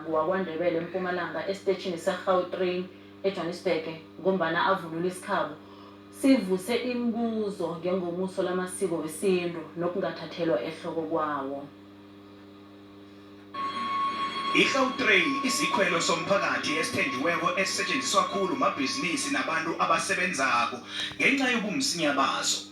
Mnyango wakwaNdebele eMpumalanga esiteshini seGautrain eJwanisbhege ngombana avunule isikhabo, sivuse imibuzo ngengomuso lamasiko wesintu nokungathathelwa ehloko kwawo. IGautrain isikhwelo somphakathi esithenjiweko esisetjenziswa khulu mabhizinisi nabantu abasebenzako ngenca yobumsinya baso.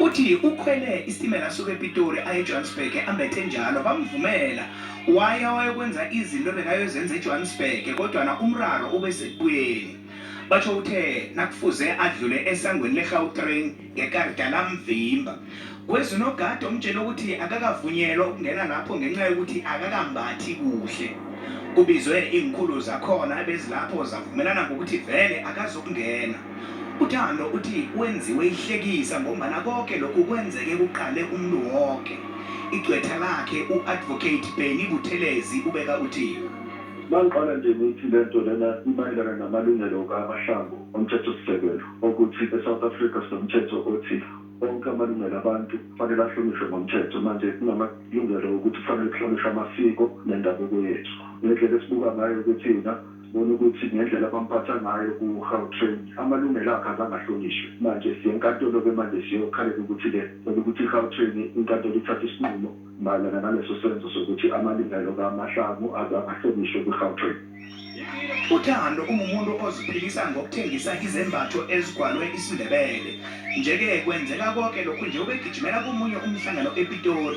Uthi ukhwele isitimela asuka ePitori aye eJohannesburg ambethe njalo bamvumela waya wayokwenza izinto ebekayozenza eJohannesburg kodwana umraro ube sekubuyeni. Batjho uthe nakufuze adlule esangweni leGautrain ngekarida lamvimba. Kweza unogada omtjele ukuthi akakavunyelwa ukungena lapho ngenca yokuthi akakambathi kuhle. Kubizwe iinkhulu zakhona ebezilapho zavumelana ngokuthi vele akazokungena. UThando uthi wenziwe ihlekisa ngombana koke lokhu kwenzeke kuqale umuntu woke. Igcwetha lakhe u-Advocate Benny Buthelezi ubeka uthi. Mangiqala nje ngithi le nto lena imayelana namalungelo kaMahlangu oMthethosisekelo okuthi eSouth Africa sinomthetho othi onke amalungelo abantu kufanele ahlonishwe ngomthetho. Manje kunamalungelo okuthi kufanele kuhlonishwe amasiko nendabuko yethu. Ngendlela esibuka ngayo ke thina. Sibone ukuthi ngendlela abamphatha ngayo ku Gautrain amalungelo akhe azange ahlonishwe. Manje siye enkantolo ke manje siyokhalela ukuthi ke cela ukuthi iGautrain inkantolo ithathe isinqumo mayelana naleso senzo sokuthi amalungelo ka Mahlangu azange ahlonishwe kwi Gautrain. UThando ungumuntu oziphilisa ngokuthengisa izembatho ezigwalwe isiNdebele. Nje ke kwenzeka koke lokhu nje ubegijimela komunye umhlangano ePitori.